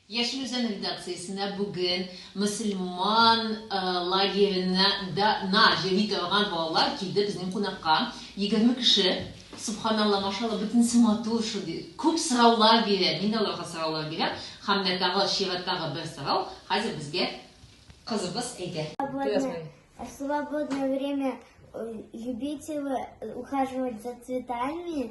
Яшел Үзән редакциясенә бүген мөселман лагеренә да на йөри торган балалар килде безнең кунакка. Егерме кеше, субханалла, машалла, бөтенесе матур шул ди. Күп сораулар бирә, мин дә аларга сораулар бирәм. Һәм менә тагы чираттагы бер сорау хәзер безгә кызыбыз әйтә. Свободное время любите вы ухаживать за цветами?